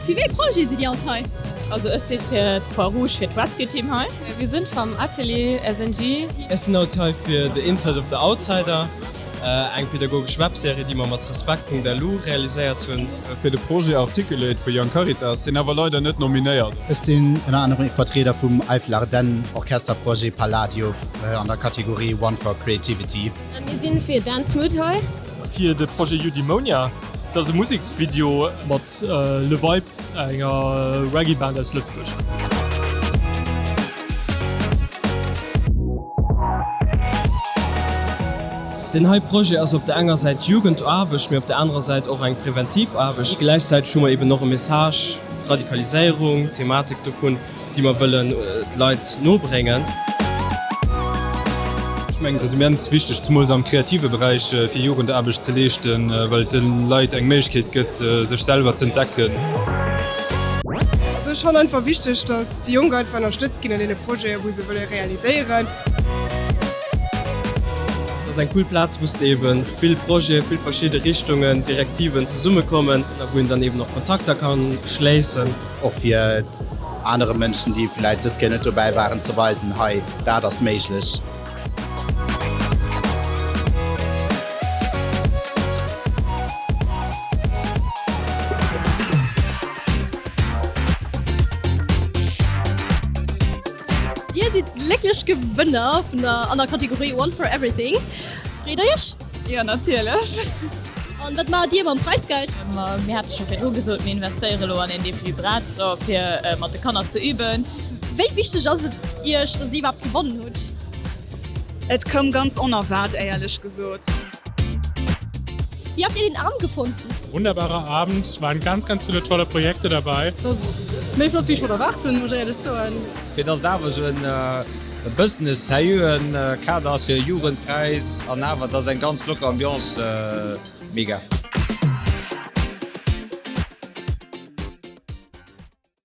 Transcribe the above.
Fir wéi ee Projet sidd Dir haut hei? Also ech si fir d'Croix Rouge, fir d'Rescue Team hei. Mir sinn vum Atelier SNG. Ech sinn haut hei fir The Inside of the Outsider. Eng pedagogesch Webserie, déi mer mat Respekt.lu realiséiert hunn. Fir de Projet Articulate vu Young Caritas sinn awer leider net nominéiert. Ech sinn ënner anerem Vertrieder vum Eifel-Ardennen Orchester Projet Palladio an der Kategorie One for Creativity. Mir sinn fir Dance Mood hei. Fir de Projet Eudaimonia. Dat ass e Museksvideo mat Le Vibe, enger Reggae-Band aus Lëtzebuerg. Den hei Projet ass op der enger Säit Jugendaarbecht, mee op der anerer Säit och eng Präventivaarbecht. Gläichzäiteg hu mer eeben och e Message, Radikaliséierung, d'Thematik dovun. déi mer wëllen d'Leit nobréngen. Ech mengen, et ass immens wichteg, zemools am kreative Beräich, fir Jugendaarbecht ze leeschten, well et den Leit eng Méiglechkeet gëtt, sech selwer ze entdecken. Also ech fannen einfach wichteg, dass déi Jonk einfach ënnerstëtzt ginn an deene Projeten, wou se wëlle realiséieren. Et ass eng cool Plaz, wou s de eeben vill Projeten, vill verschidde Richtungen, Direktiven zesummekommen a wou een dann eeben och Kontakter ka schléissen. Och fir anere Mënschen, déi vläit dës Kéier net dobäi waren, ze weisen, hei, dat ass méiglech. Dir sidd d'glécklech Gewënner vun der an der Kategorie One for Everything. Freet der Iech? Jo natierlech. An wat maacht Dir mam Preisgeld? Mir hate scho virdru gesot, mir investéiere lo an een Defibrillator fir mat de Kanner ze üben. Wéi wichteg ass et Iech, datt Dir iwwerhaapt gewonnen hutt? Et koum ganz onerwaart éierlech gesot. Wéi habt Dir den Abend gefonnt? Wunderbarer Abend, et waren ganz ganz ville tolle Projekte dabei. Dass méi flott wéi ech mer erwaart hunn, muss ech éierlech soen. Fir dass et awer esou en. E Business sérieuxen Kader ass fir e Jugendpräis an awer et ass eng ganz locker Ambiance. Mega.